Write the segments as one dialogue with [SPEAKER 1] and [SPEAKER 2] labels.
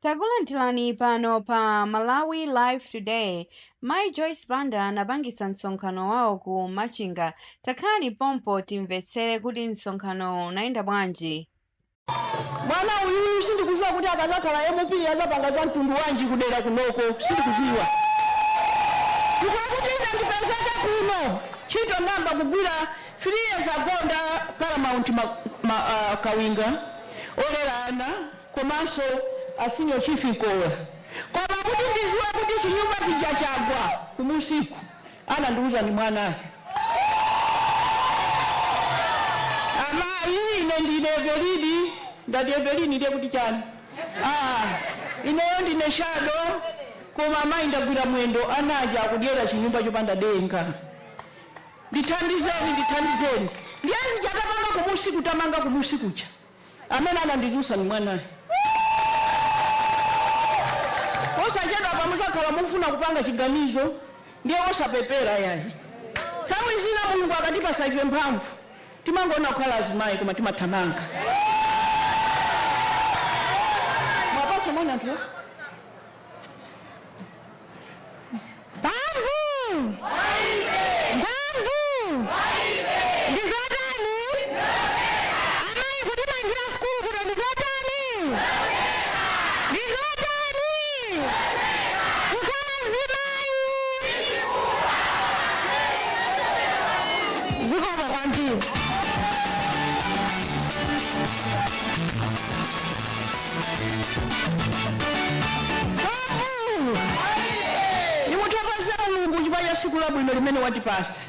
[SPEAKER 1] Takulandirani pano pa Malawi Live Today. Mai Joyce Banda anapangitsa msonkhano wawo ku Machinga. Takhalani pompa timvetsere kuti msonkhanowo unayenda
[SPEAKER 2] bwanji. Mwana uyuyu sindikuziwa kuti akazakhala MP azapanga za mtundu wanji kudera kunoko sindikuziwa chifukwa kuti ine ndipezeke kuno ntchito ndayamba kugwira 3 years ago ndi a paramount ma, ma, uh, kawinga olera ana komanso a senior chief Mkoola koma kuti ndiziwe kuti chinyumba chija chagwa kumusiku anandiuza ni mwanayu amayi ine ndine evelini ndati evelini ndiye kuti chani ah, ineyo ndine shado koma amayi ndagwira mwendo anaja akudyera chinyumba chopanda denga Ndithandizeni ndithandizeni ndiye zija tapanga kumusiku tamanga kumusiku kuja amene anandizusa ndi mwanayu posachedwapa muzakhala mukufuna kupanga chiganizo ndiye osapepela yayi nthawi zina mulungu akatipasa ife mphamvu timangoona kukhala azimayi koma timathamanga mwapasa mwanayu anthu Mphamvu! Mphamvu! Ndi zotani? Amayi kutimangira sukulu kuno ndi zotani? Ndi zotani? Kukhala azimayi! Zikomo kwambiri. Ndikuthokoza Mulungu chifukwa cha tsiku labwino limene watipasa.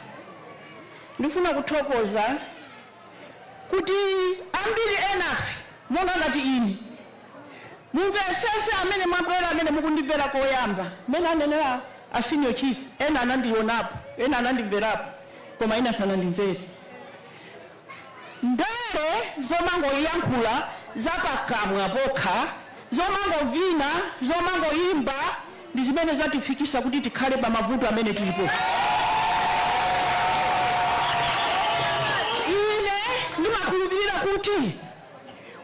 [SPEAKER 2] Ndikufuna kuthokoza kuti ambiri enafe monga ngati ine mumveresese amene mwabwera amene mukundimvera koyamba. Mmene anenera a Senior Chief, ena anandionapo, ena anandimverapo koma ena sanandimvere. Ndale zomangoyankhula za pakamwa pokha, zomangovina, zomangoimba ndi zimene zatifikisa kuti tikhale pa mavuto amene tilipowa. Ine ndimakhulupilira kuti.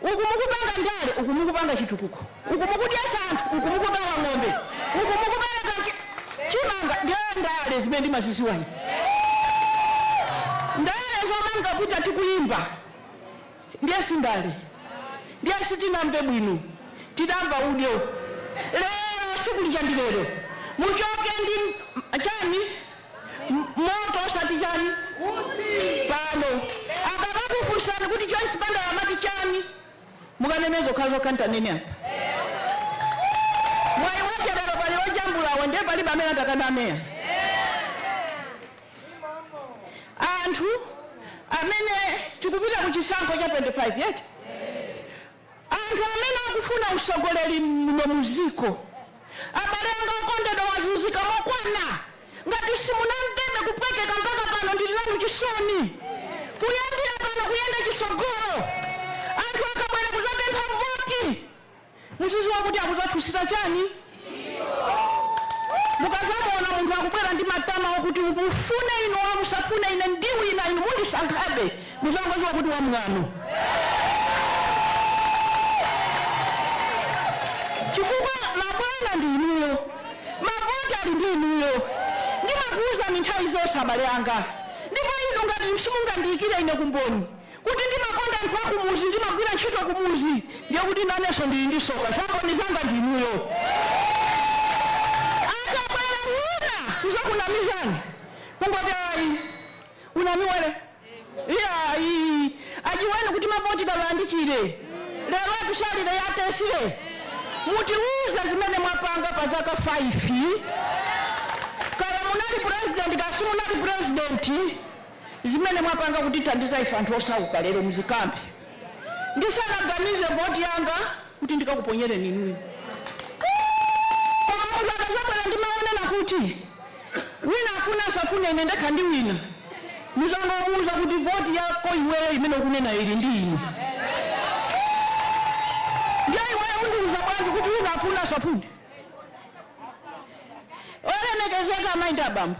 [SPEAKER 2] uku mukupanga ndale uku mukupanga chitukuko uku mukudyesa anthu uku mukugawa ng'ombe uku mukubereka chi- chimanga ndiye ndale zimene ndimaziziwa ine ndale zomangoti tikuyimba ndiye sindale ndiye sitinamve bwino tidamva udyo lero siku lija ndi lero muchoke ndi chani moto osati chani Utsi. pano akakakufunsani kuti joyce banda amati chani mukanene zokhazokha ntanene apa mwayi wache lero pali ojambulawa ndiye palibe amene atakaname eya anthu amene tikupita ku chisankho cha 25 yet Anthu amene akufuna usogoleri muno muziko abale anga okondedwa mwazuzika mokwana ngati simunamvebe kupweteka mpaka pano ndili nanu chisoni kuyambila pano kuyenda chisogolo anthu akabwera kuzapempha voti muziziwa kuti akuzafunsira chani Mukazamuona munthu akubwera ndi matama okuti mufune inu or musafune ine ndiwina inu mundisankhabe muzangoziwa kuti wamwano chifukwa mabwana ndi inuyo mavoti ali ndi inuyo ndimakuuzani nthawi zonse abale anga ndipo inu ngati simungandiyikire ine kumboni kuti ndimakonda anthu akumuzi ndimagwira ntchito kumuzi ndiye kuti nanenso ndili ndi soka zamboni zanga ndinuyo akabwera wina kuzakunamizani kungoti ayi unami wele iyayi ajiweni kuti mavoti gawandichire lero atusalire yatesire mutiuze zimene mwapanga pa zaka 5 kaya munali president kaya simunali president zimene mwapanga kutithandiza ife anthu osauka lero muzikambe ndisanaganize voti yanga kuti ndikakuponyereni inuyo koma munthu akazabwera ndi mawu onena kuti wina afune asafune ine ndekha ndiwina muzangomuuza kuti voti yako iweyo imene ukunena ili ndi ine ndiye iweyo undiuza bwanji kuti wina afune asafune olemekezeka amayi ndi abambo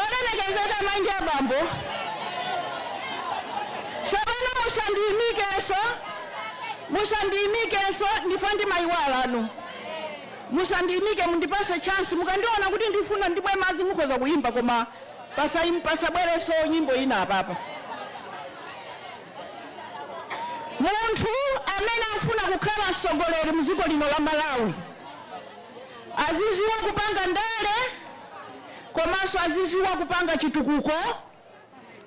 [SPEAKER 2] olemekezeka amai ndi abambo tsopano musandiimikenso musandiimikenso ndipo ndimaiwalanu musandiimike mundipase chance mukandiona kuti ndifuna ndimwe madzi mukhoza kuyimba koma pasai- pasabwerenso nyimbo ina apapa munthu amene akufuna kukhala mtsogoleri mdziko lino la malawi aziziwa kupanga ndale komanso aziziwa kupanga chitukuko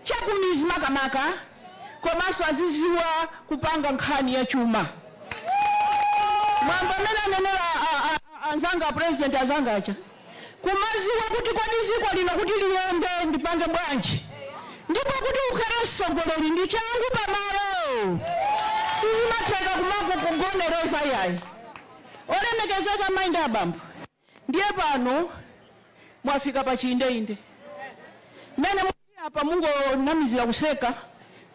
[SPEAKER 2] chakumizi makamaka komanso aziziwa kupanga nkhani ya chuma monga mmene anenera a- a- anzanga a president anzanga aja kumaziwa kuti kodi dziko lino kuti liyende ndipange bwanji ndipo kuti ukhale mtsogoleri ndi changu pamalo sizimatheka kumangokugonereza yayi Olemekezeka amai ndi abambo ndiye pano mwafika pa chiindeinde. Mmene mulili apa mungonamizira kuseka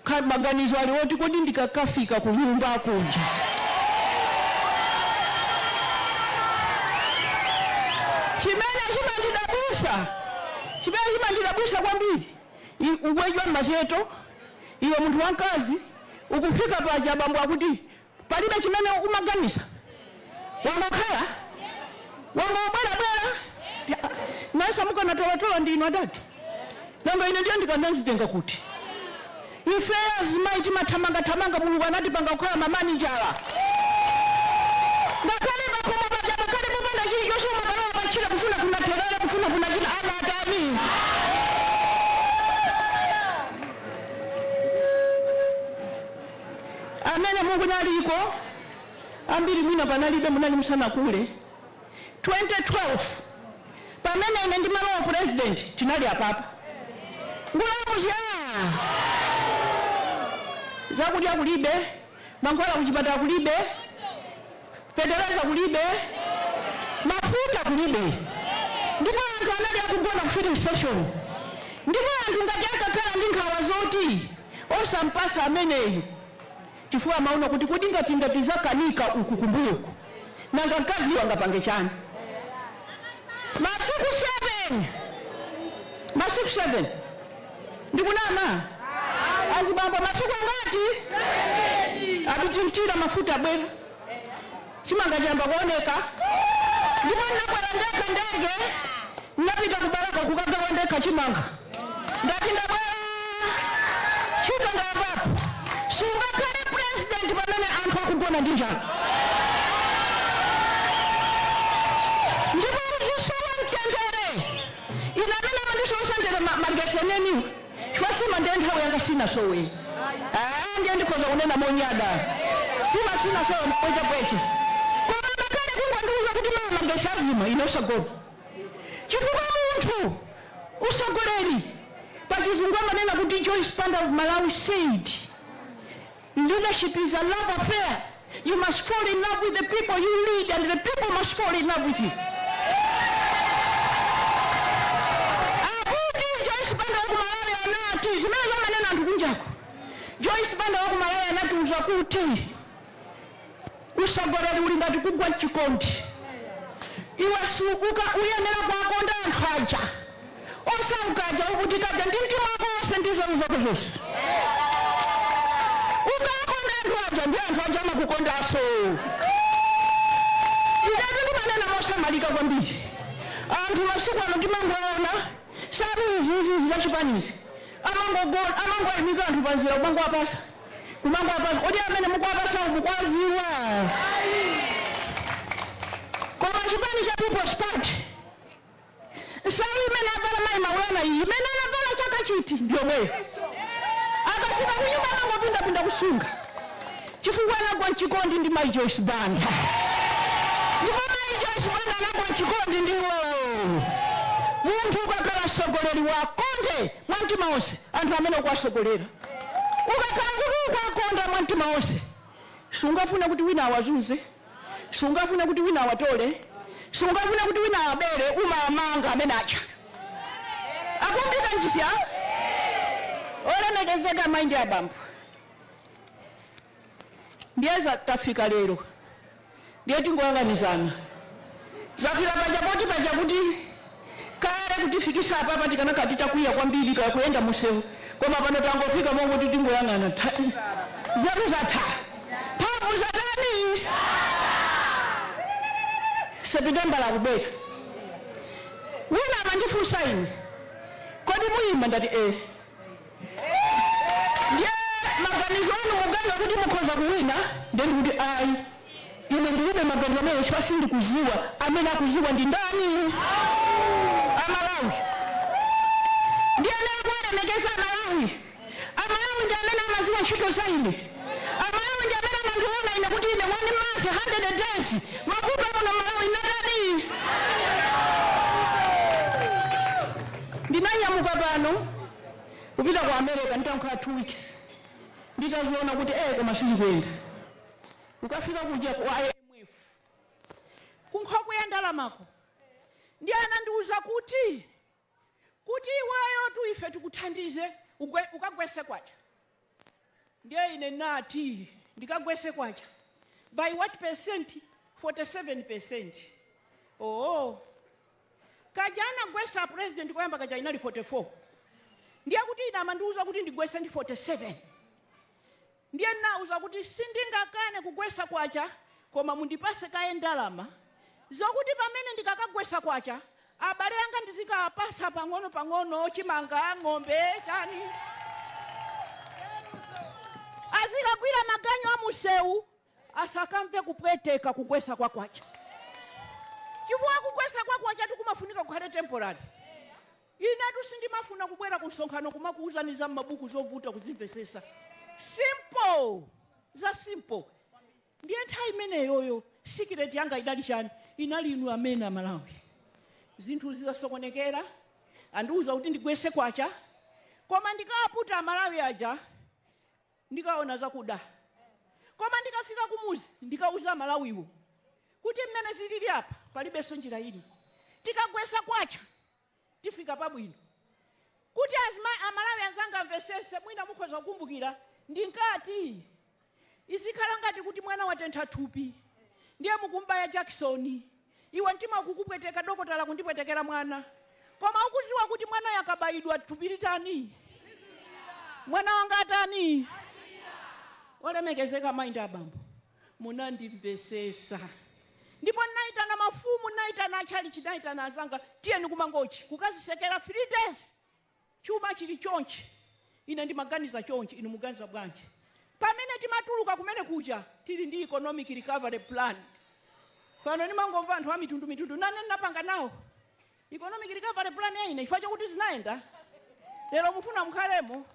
[SPEAKER 2] kut maganizo ali oti kodi ndikakafika kunyumba kuja chimene chimandidabwitsa chimene chimandidabwitsa kwambiri i- ubwera mmadzulo iwe munthu wamkazi ukufika paja abambo akuti Palibe chimene umaganiza? Wangokhala? Wangobwerabwera? Nanunso mukanatolatola ndi inu adadi? Nanga ine ndiye ndikadazitenga kuti? Ifeyo azimayi timathamangathamanga Mulungu anatipanga kukhala mamaninja. Ngakhale pakhomo paja pakhale popanda chilichonse umakalowa patchire kufunafuna therere kufunafuna china ana atani? Amene mukunaliko ambiri mwina panalibe munali musanakule 2012 pamene ine ndimalowa president tinali apapa ngumya aa zakudya kulibe mankhwala kuchipatala kulibe fetereza kulibe, mafuta kulibe, ndipo anthu anali akugona ku filling station, ndipo anthu ngati atakhala ndi nkhawa zoti osampasa ameneyu chifukwa amaona kuti kodi ngati ngati zakanika uku kumbuyoku nanga mkaziyo angapange chani? masiku 7 masiku 7 Ndikunama? Azibambo masiku angati? Abiti mtira mafuta abwera. Chimanga chiyamba kuoneka. Ndipo ndinakwera ndekha ndege. Ndinapita ku Balaka kukagawa ndekha chimanga. Ndati ndabwera. Ntchito ndayambapo. Sungakhale president pamene anthu akugona ndi njala. Ndipo uzisowa mtendere. ine amene amandisowetsa mtendere ma- magetsi enieniwo chifukwa nsima ndiye nthawi yanga sinasowe Ah, ndiye ndikhoza kunena monyada nsima sinasowe mpwechapweche koma ngakhale kungondiuza kuti mawa magetsi azima ine osagona chifukwa munthu utsogoleri pachizungu amanena kuti Joyce Banda of Malawi said Leadership is a love affair, you must fall in love with the people you lead and the people must fall in love with you. Akuti Joyce Banda wa ku Malawi anati zimene amanena anthu kunjaku. Joyce Banda wa ku Malawi anatiuza kuti Usogoleri uli ngati kugwa mchikondi iwe sukuka uyenera kuwakonda anthu aja osauka aja ovutika aja ndi mtima wako wonse ndi nzeru zako zonse ukawakonda anthu aja ndi anthu aja amakukondanso inetu ndimanena mosamalika kwambiri anthu masiku ano timangoona nsalu iziizi zachipanizi kumangoyimika anthu panzira kumangowapasa kumangowapasa kodi amene mukuwapasa mukuwaziwa koma chipani cha peoples party nsalu imene avala mayi maulana iyi imene anavala chaka chiti ndi yomweyo akafika kunyumba amangopindapinda kusunga chifukwa anagwa mchikondi ndi mayi joyce banda ndipo mayi joyce banda anagwa mchikondi ndi iwo munthu ukakhala mtsogoleri wakonde mwa mtima wonse anthu amene ukuwasogolera. Ukakhala kuti ukuwakonda mwa mtima wonse, sungafune kuti wina awazunze, sungafune kuti wina awatole, sungafune kuti wina awabere, umawamanga amene aba. Akumvika nchisiya? Olemekezeka amayi ndi abambo. ndiye za- tafika lero ndiye tingoyang'anizana zafika paja poti pachakuti kale kutifikisa apapa tikanakhala titakwiya kwambiri kaya kuyenda mumsewu koma pano tangofika mongoti tingoyang'ana Tha- nzeru zatha mphamvu zatani sepitembala akubwera wina amandifunsa ine kodi muyima ndati e ndiye maganizo anu muganiza kuti mukhoza kuwina ndiye ndikuti ayi ine ndilibe maganizo amene chifukwa sindikuziwa amene akuziwa ndi ndani amalawi ndiyeno kuwalemekeza amalawi amalawi ndi amene amaziwa ntchito za ine amalawi ndi amene amandiona ine kuti ine one month 100 days ndakukha muno malawi ndatani ndinanyamuka pano kupita ku america nditakhala 2 weeks nditaziona kuti eh koma sizikuyenda ukafika kuja ku imf kunkhokwe ya ndalamako ndiye anandiuza kuti kuti iweyo kuti ife tikuthandize ugwe- ukagwese kwacha Ndiye ine ndinati ndikagwese kwacha by what percent 47%. Oho. Kaja anagwesa a president koyamba kaja inali 44. Ndiye kuti ine amandiuza kuti ndigwese ndi 47. Ndiye ndinawauza kuti sindingakane kugwesa kwacha koma mundipase kaye ndalama zokuti pamene ndikakagwesa kwacha Abale anga ndizikawapasa pang'ono pang'ono chimanga, ng'ombe, chani. Azikagwira maganyu a museu asakamve kupweteka kugwesa kwa kwacha chifukwa kugwesa kwa kwachatu kumafunika kukhale temporary. Inetu sindimafuna kubwera ku msonkhano kumakuuzani za mmabuku zovuta kuzimvesesa simple za simple Ndiye nthawi imeneyoyo secret yanga idali chani? Inali inu amene a Malawi. Zinthu zizasokonekera, andiuza kuti ndigwese kwacha, koma ndikawaputa a Malawi aja ndikaona zakuda. Koma ndikafika kumuzi ndikauza a Malawiwo kuti mmene zilili apa palibenso njira ina, tikagwesa kwacha. tifika pabwino. Kuti azima a Malawi anzanga amvesese mwina mukhoza kukumbukila ndinkati izikhala ngati kuti mwana watentha thupi ndiye mukumbaya jakisoni iwe mtima ukukupweteka dokotala akundipwetekela mwana koma ukuziwa kuti mwanayo akabayidwa thupi litani mwana wanga atani olemekezeka mai ndi abambo munandimvesesa ndipo ndinaitana mafumu ndinaitana achalichi ndinaitana anzanga tiyeni kumangochi kukazisekera three days chuma chili chonchi ine ndimaganiza chonchi inu muganiza bwanji pamene timatuluka kumene kuja tili ndi economic recovery plan pano ndimangomva anthu amitundu mitundu nane ndinapanga nawo economic recovery plan ya ine chifukwa chokuti zinayenda lero mufuna mukhalemo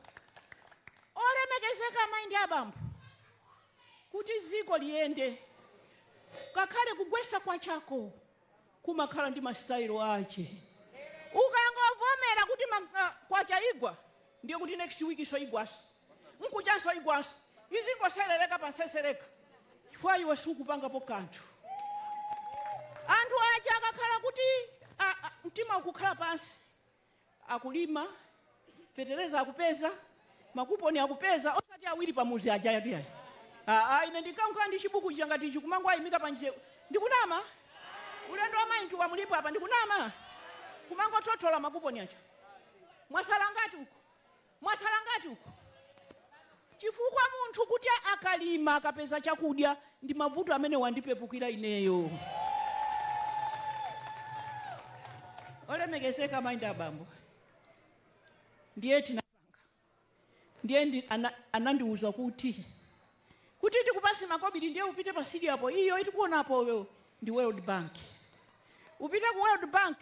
[SPEAKER 2] olemekezeka amayi ndi abambo Kuti dziko liyende, ngakhale kugwesa kwachako kumakhala ndi ma style ache. Ukangovomera kuti ma kwacha igwa, ndiye kuti next weekso igwanso, mkuchanso igwanso, izingoselereka pa nseseleka chifukwa iwe sukupangapo kanthu. Anthu aja akakhala kuti a, a, mtima ukukhala pansi, akulima feteleza akupeza makuponi akupeza osati awiri pamuzi aja yadi yayi aa ine ndinkakhala ndi chibuku chija ngati ichi kumangowayimika pa njira ndikunama ulendo wa mayi ntuwa mulipo apa ndikunama kumangothothola makuponi aja mwasala ngati uko mwasala ngati uko chifukwa munthu kuti akalima akapeza chakudya ndi mavuto amene wandipepukira ineyo olemekezeka mayi ndi abambo ndiye tinapanga ndiye ndi, ana, anandiuza kuti kuti tikupase makobiri ndiye upite pa sidi apo iyo ikuonekapoyo ndi world bank upite ku world bank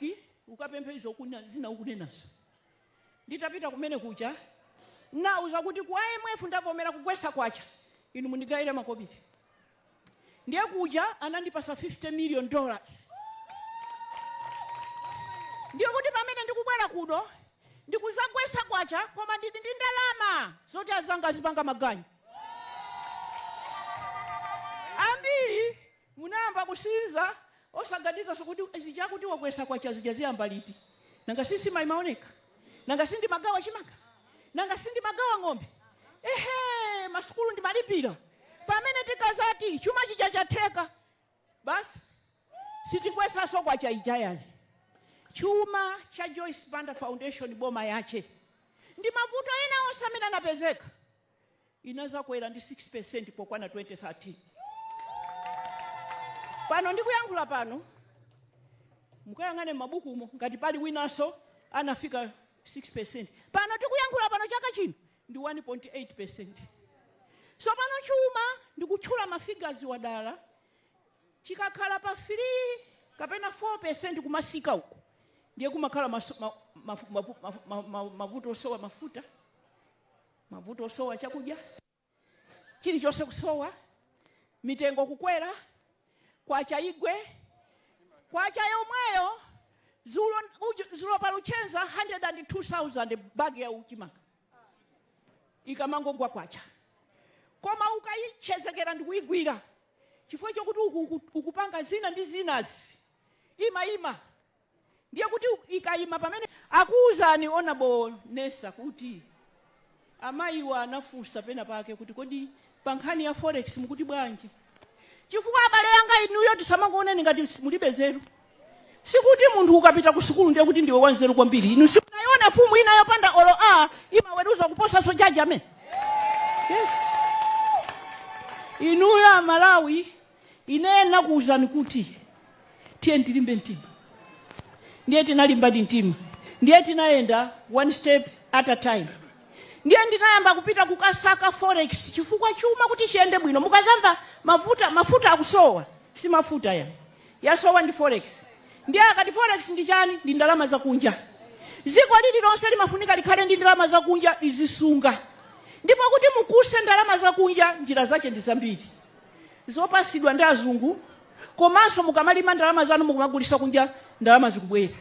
[SPEAKER 2] ukapemphe izo kuna- zina ukunenazo nditapita kumene kuja nauza kuti ku imf ndavomera kugwesa kwacha inu mundigayire makobiri Ndiye kuja anandipasa 50 million dollars. Ndiye kuti pamene ndikubwera kuno ndikuzagwesa kwacha koma ndili ndi ndalama zoti azanga azipanga maganyu. Ambiri munayamba kusinza Osaganizanso kuti zija akuti wagwesa kwacha zija ziyamba liti. Nanga si simaoneka? Nanga si ndimagawa chimanga? Nanga si ndimagawa ng'ombe? Ehe! Masukulu ndimalipira. Pamene tikazati chuma chija chatheka, basi sitigwesanso kwacha ija yayi. Chuma cha Joyce Banda Foundation pomwe yache ndi mavuto ena onse amene anapezeka. inazakwera ndi 6% pokwana 2013. Pano ndikuyankhula pano mukayang'ane m'mabukumo ngati pali winanso anafika 6%. Pano tikuyankhula pano chaka chino ndi 1.8%. Tsopano chuma ndikutchula ma figures wa dala chikakhala pa 3 kapena 4% kumasika uko ndiye kumakhala maso- ma- ma- ma- ma- ma- ma- mavuto osowa mafuta mavuto osowa chakudya, chilichonse kusowa, mitengo kukwera, kwacha igwe, kwacha yomweyo zulo, uju- zulo pa Luchenza 102000 bagi ya chimanga ikamangogwa kwacha koma ukayitchezekera ndi kuyigwira chifukwa chokuti uku- uku- ukupanga zina ndi zinazi imayima Ndiye kuti ikayima pamene. Akuwuzani Honourable Nessa kuti amayiwa anafunsa pena pake kuti kodi pa nkhani ya forex mukuti bwanji chifukwa abale yanga inuyo tisamangokuwoneni ngati mulibe nzeru. Sikuti munthu ukapita ku sukulu ndiye kuti ndiwe wanzeru kwambiri. Inu simunayione mfumu ina yopanda olo a imaweruza kuposanso judge amene. Yes. Inuyo a Malawi Ine nakuuzani kuti tiyeni tilimbe mtima. Ndiye tinalimbadi mtima. Ndiye tinayenda one step at a time. Ndiye ndinayamba kupita kukasaka forex chifukwa chuma kuti chiyende bwino mukazamva mafu- mafuta akusowa si mafuta yayi yasowa ndi forex. Ndiye akati forex ndi chani? Ndi ndalama zakunja. Dziko lililonse limafunika likhale ndi ndalama zakunja lizisunga. Ndipo kuti mukuse ndalama zakunja njira zache ndi zambiri. zopasidwa ndi azungu komanso mukamalima ndalama zanu mukumagulisa kunja ndalama zikubwera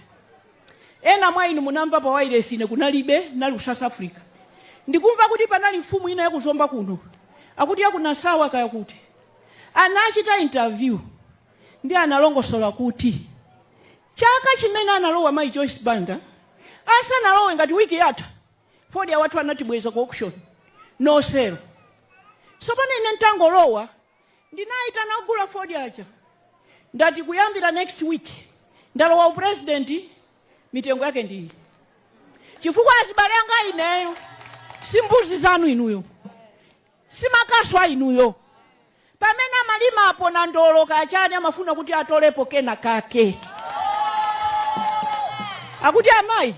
[SPEAKER 2] ena mwa inu munamva pa wailesi ine kunalibe nali ku South Africa ndikumva kuti panali mfumu ina yaku Zomba kuno akuti yaku Nasawa kaya kuti anachita interview ndiye analongosola kuti chaka chimene analowa mayi Joyce Banda asanalowe ngati wiki yatha fodya wathu anatibweza ku auction no sell sopano ine nditangolowa ndinayitana ogula fodya aja ndati kuyambira next week ndalowa upresident mitengo yake ndiyi chifukwa azibale anga ineyo si mbuzi zanu inuyo si makasu a inuyo pamene amalimapo nandolo kaya chani amafuna kuti atolepo kena kake akuti amayi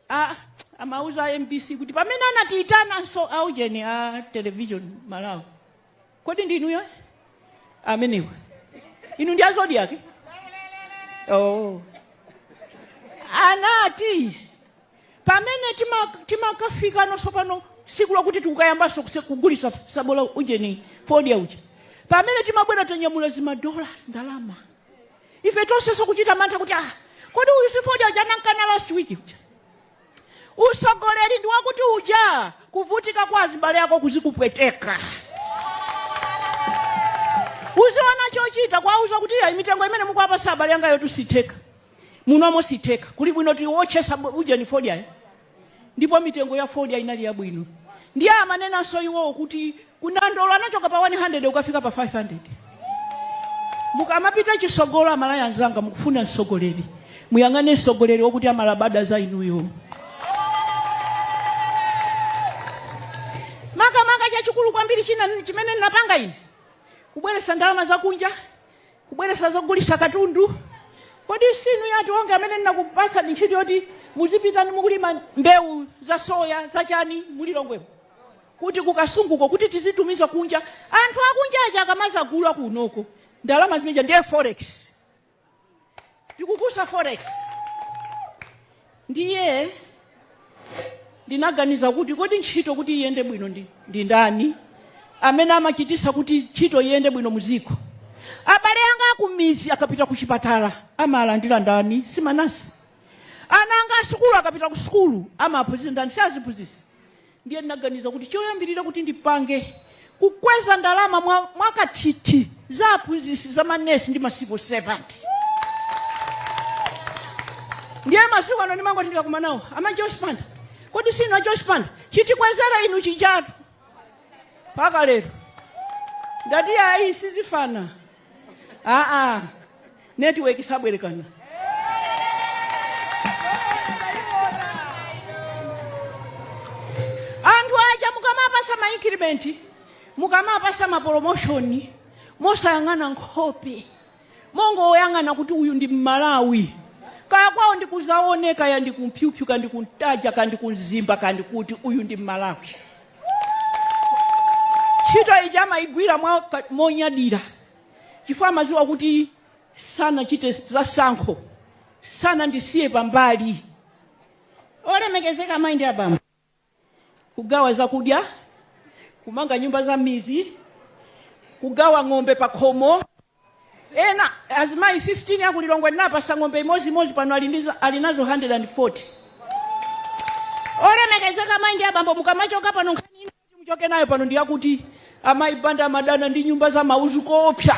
[SPEAKER 2] a- amauza a mbc kuti pamene anatiitananso aujeni a television Malawi kodi ndinuyo amenewa inu ndi a Zodiak eh oh. anati pamene timakafika no sopano siku lokuti tikayambanso kugulisa sabola ujeni fodya uja pamene timabwera tanyamula zimadollars ndalama ife tonsenso kuchita mantha kuti ah kodi uyu si fodya uja anankana last week uja usogoleri ndi wakuti, uja kuvutika kwa azibale yako kuzikupweteka uziona chochita kwauza kuti ya mitengo imene mukuwapatsa abale anga yotu sitheka munomo sitheka kuli bwino tiwotchesa bw- ujeni fodyayo ndipo mitengo ya fodya inali yabwino ndiye amanenanso iwowo kuti kunandolo anachoka pa 100 kukafika pa 500 mukamapita chisogolo aMalawi anzanga mukufuna msogoleri muyang'ane msogoleri wokuti amalabada za inuyo makamaka chachikulu kwambiri china chimene ndinapanga ine kubweretsa ndalama zakunja kubweretsa zogulitsa katundu kodi si inu a Atuwonge amene ndinakupasani ntchito yoti muzipita ndi mukulima mbewu za soya za chani mu Lilongwe mo kuti ku Kasungu ko kuti tizitumiza kunja anthu akunja aja akamazagula kunoko ndalama zimeja ndiye forex tikukuuzani forex ndiye ndinaganiza kuti kodi ntchito kuti iyende bwino ndi, ndi ndani amene amachitisa kuti ntchito iyende bwino muziko abale anga akumizi akapita ku chipatala amalandira ndani si manesi ana anga asukulu akapita ku sukulu amaphunzitsa ndani si aziphunzitsi Ndiye ndinaganiza kuti choyambirira kuti ndipange, kukweza ndalama mwa, mwakathithi za aphunzitsi za manesi ndi ma civil servant. Ndiye masiku ano ndimangoti ndikakumana nawo, ama Joyce Banda, kodi si inu a Joyce Banda, chitikwezera inu chijatu mpaka lero ndati ayi sizifana aa netiweki sabwerekana anthu aja mukamapasa mainkirimenti mukamapasa maporomoshoni mosayang'ana nkhope mongoyang'ana kuti uyu ndi mmalawi kaya kwawo ndi ku Zaoneka ya ndi ku Mpyupyu ka ndi ku Ntaja ka ndi ku Mzimba ka ndi kuti uyu ndi mmalawi ntchito ija amayigwira monyadira chifukwa amadziwa kuti sanachite zasankho sanandisiye pambali olemekezeka amayi ndi abambo kugawa zakudya kumanga nyumba za mmizi kugawa ng'ombe pa khomo Ena, azimayi 15 aku Lilongwe ndinawapasa ng'ombe imodzi imodzi pano ali nazo 140. Olemekezeka amayi ndi abambo mukamachoka pano nkhani ina kuti muchoke nayo pano ndi yakuti amayi Banda amadana ndi nyumba za mauzu koopsa.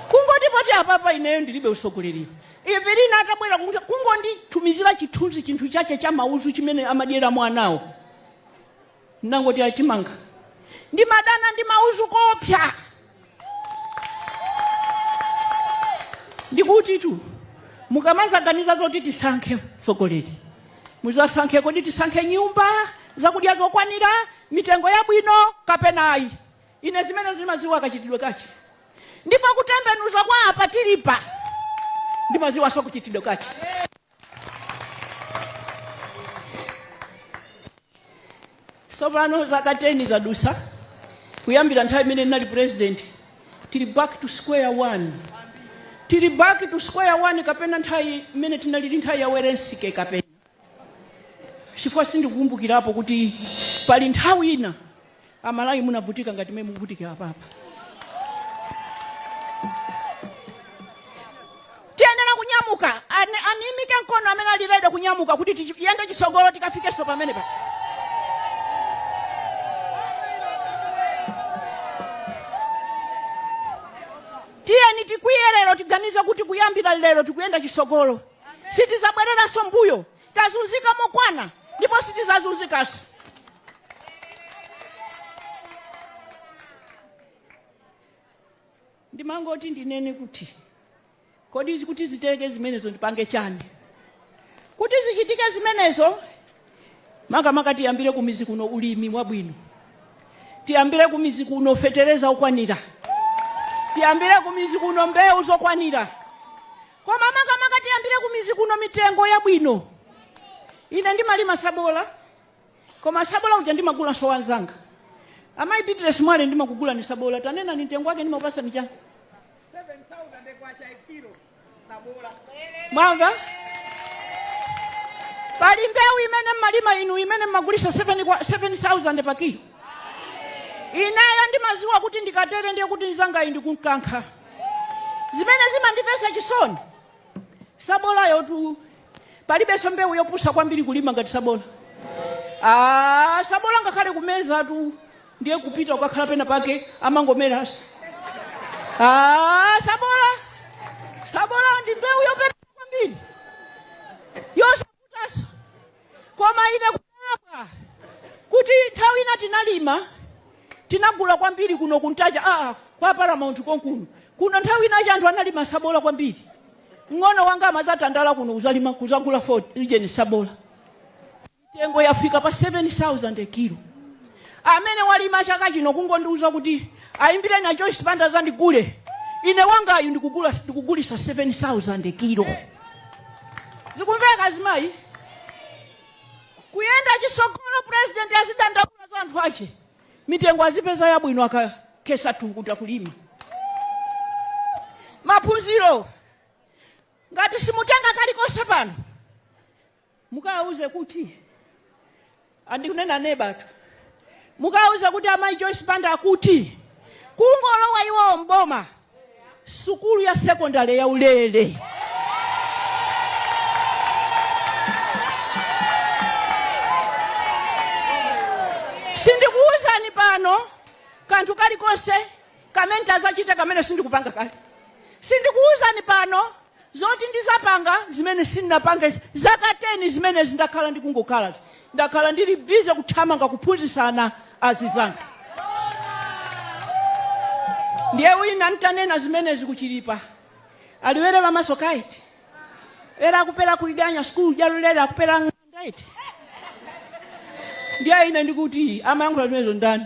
[SPEAKER 2] Kungoti poti apapa ineyo ndilibe usogoleri. Evelina atabwera kunja kungonditumizira chithunzi chinthu chache cha mauzu chimene amadyera mwanawo. Ndinangoti ayi timanga. Ndimadana ndi mauzu koopsa. Ndikutitu mukamazaganiza zoti tisankhe mtsogoleri muzasankhe kodi tisankhe nyumba zakudya zokwanira mitengo yabwino kapena ayi ine zimenezo ndimaziwa kachitidwe kachi ndipo kutembenuza kwa apa tilipa ndimaziwaso kachitidwe kachi tsopano zaka 10 zadusa kuyambira nthawi imene ndinali president tili back to square one tili back to square one kapena nthawi imene tinalili nthawi ya werensike kapena chifukwa sindikukumbukirapo kuti pali nthawi ina amalawi munavutika ngati mmene mukuvutikira apapa tiyenera kunyamuka aimike mkono amene ali ready kunyamuka kuti tiyende chisogolo tikafikenso pamene paja tiyeni tikwiye lero tiganize kuti kuyambira lero tikuyenda chisogolo sitizabwereranso mbuyo Tazunzika mokwana ndipo sitizazunzikanso. Ndimangoti ndinene kuti kodi kuti zitheke zimenezo ndipange chani? Kuti zichitike zimenezo makamaka tiyambire kumizi kuno ulimi wabwino. Tiyambire kumizi kuno fetereza okwanira. Tiyambire kumizi kuno mbewu zokwanira. koma makamaka tiyambire kumizi kuno mitengo yabwino ine ndimalima sabola koma sabola uja ndimagulanso wanzanga amayi Beatrice mwale ndimakugulani sabola tanenani mtengo wake ndimakupasani chani mwamva pali mbewu imene mmalima inu imene mmagulisa 7000 pa kilo inayo ndimaziwa kuti ndikatere ndiye kuti nzangayu ndikunkankha zimene zimandipasa chisoni sabolayotu palibenso mbewu yopusa kwambiri kulima ngati sabola ah, sabola ngakhale kumezatu ndiye kupita ukakhala pena pake amangomeranso ah, sabola sabola ndi mbewu yopusa kwambiri yosa Taso. koma ine kudabwa kuti nthawi ina tinalima tinagula kwambiri kuno kuNtaja aa kwa paramount konkuno kuno nthawi ina anthu analima sabola kwambiri mng'ono wanga amazatandala kuno kuzalima kuzagula Ford Legend sabola mitengo yafika pa 7000 kilo amene walima chaka chino kungondiuza kuti ayimbireni a Joyce Banda azandigule ine wangayu ndikugula ndikugulisa 7000 kilo zikumveka azimayi kuyenda chisogolo president azidandaula za anthu ache mitengo azipeza yabwino akakhesa tukuta kulima maphunziro ngati simutenge kalikonse pano Mukawauze kuti ndikunenanebatu. Mukawauze kuti amayi Joyce Banda akuti kungolowa iwowo m'boma sukulu ya sekondale ya ulele. Sindikuwuzani pano kanthu kalikonse kamene tizachite kamene sindikupanga kale. Sindikuwuzani pano zoti ndizapanga zimene sindinapange zaka 10 zimenezi sindakhala ndikungokhala ndakhala ndili bize kuthamanga kuphunzitsana azizanga ndiye wina ntanenapo zimenezi kuchilipa aliwere pamaso kaiti era akupera kuliganya sikulu jalulele akupera ng'anda iti ndiye ine ndikuti amayankhula zimenezo ndani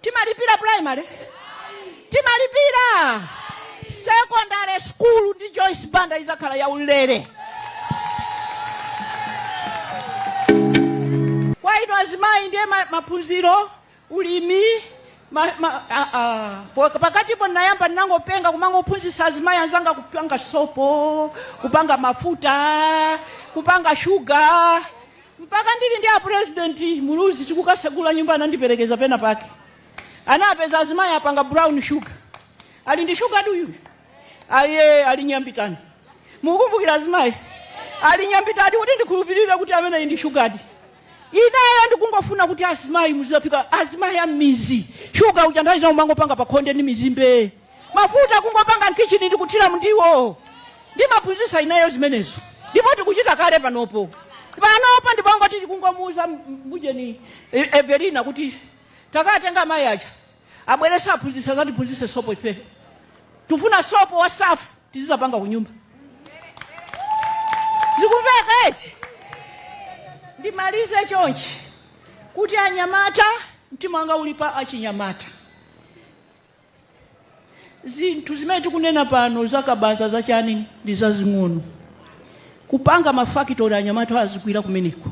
[SPEAKER 2] timalipira primary timalipira secondary school ndi joyce banda izakhala ya ulere kwa inu azimayi ndiye ma- maphunziro ulimi ma, ma, a, a, po- pakatipo ndinayamba ndinangopenga kumangophunzitsa azimayi anzanga kupanga sopo kupanga mafuta kupanga shuga Mpaka ndili ndi a president Muluzi tikukatsegula nyumba anandiperekeza pena pake. Tinapeza azimayi apanga brown sugar. Ali ndi sugartu uyu. Aye ali nyambitani. Mukumbukira azimayi. Ali nyambitani kuti ndikhulupirire kuti ameneyu ndi sugar. Ineyo ndikungofuna kuti azimayi muzapika azimayi a m'mizi. Sugar uja mudzazimangopanga pakhonde ndi mizimbe. mafuta kungopanga m'khichini ndikuthira mundiwo ndimaphunzitsa ineyo zimenezo ndipo tikuchita kale panopo panopo ndi pongoti tikungomuuza mbujeni e- everina kuti takatengani amayi aja abwerenso aphunzitse azatiphunzitse sopo ife tufuna sopo wa safu tizizapanga kunyumba zikumveka eti ndimalize chonchi kuti anyamata mtima wanga uli pa achinyamata zinthu zimene tikunena pano zakabaza zachani ndi zazing'ono kupanga mafakitori anyamata azigwira kumeneko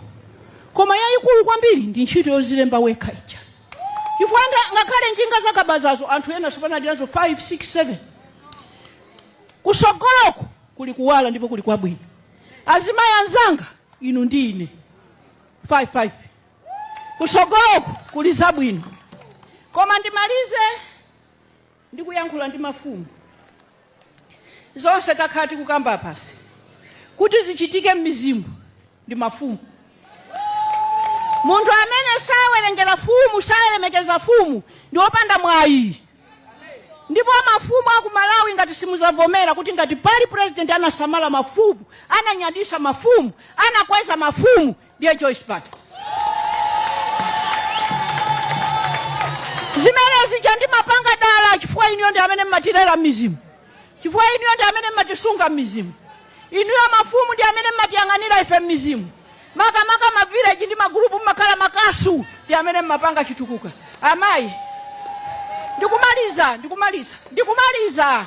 [SPEAKER 2] koma yayikulu kwambiri ndi ntchito yozilemba wekha ija chifukwa nda- ngakhale njinga zakabazazo anthu ena sopano ali nazo 5 6 7 kusogoloko kuli kuwala ndipo kuli kwabwino azimayi anzanga inu ndi ine 5 5 kusogoloko kuli zabwino koma ndimalize ndikuyankhula ndi mafumu zonse takhala tikukamba pansi kuti zichitike m'mizimu ndi mafumu munthu amene sawerengera fumu salemekeza fumu ndi wopanda mwayi ndipo mafumu aku malawi ngati simuzavomera kuti ngati pali president anasamala mafumu ananyadisa mafumu anakweza mafumu Ndine Joyce Banda. zimene zija ndimapanga dala chifukwa inuyo ndi amene mmatilera m'mizimu chifukwa inuyo ndi amene mmatisunga m'mizimu inuyo mafumu ndi amene mmatiyang'anira ife m'mizimu makamaka mavileji ndi magulupu mmakhala makasu ndi amene mmapanga chitukuko amayi ndikumaliza ndikumaliza ndikumaliza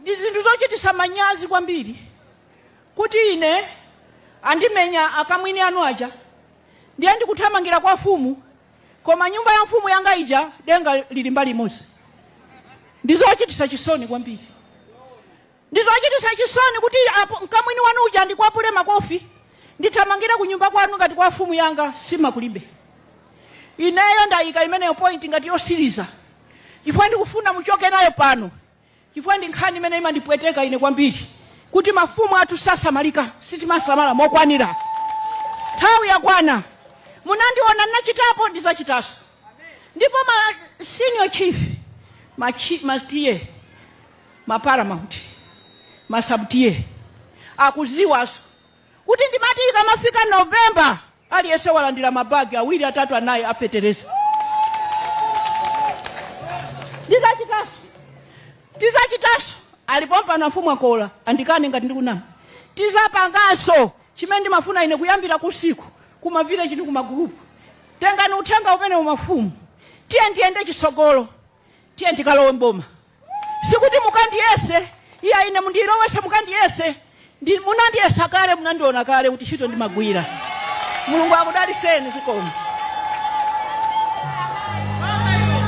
[SPEAKER 2] Ndi zinthu zochitisa manyazi kwambiri kuti ine andimenya akamwini anu aja ndiye ndikuthamangira kwa mfumu koma nyumba ya mfumu yanga ija denga lili mbali imodzi. Ndi zochitisa chisoni kwambiri. Ndi zochitisa chisoni kuti apo mkamwini wanu uja wandikwapula makofi ndithamangire ku nyumba kwanu ngati kwa mfumu yanga nsima kulibe. Ineyo ndayika imeneyo point ngati yotsiriza chifukwa ndikufuna muchoke nayo pano. chifukwa ndi nkhani imene imandipweteka ine kwambiri kuti mafumu athu sasamalika sitimasamala mokwanira nthawi yakwana munandiona ndinachitapo ndizachitanso ndipo ma senior chief machi, ma TA ma paramount ma sub TA akuziwanso kuti ndimati ikamafika November aliyense walandira mabagi awiri atatu anayi a fetereza. Ndizachitanso, tizachitanso alipo mpano amfumu akhoza andikane ngati ndikunama, tizapanganso chimene ndimafuna ine kuyambira kusiku kumavileji kumagulupu tengani uthenga umenewu mafumu tiye ndiyende chitsogolo tiye ndikalowe mboma. Sikuti mukandiyese iyayi ine mundilowese mukandiyese munandiyesa kale munandiona kale kuti ntchito ndimagwira mulungu akudaliseni zikomo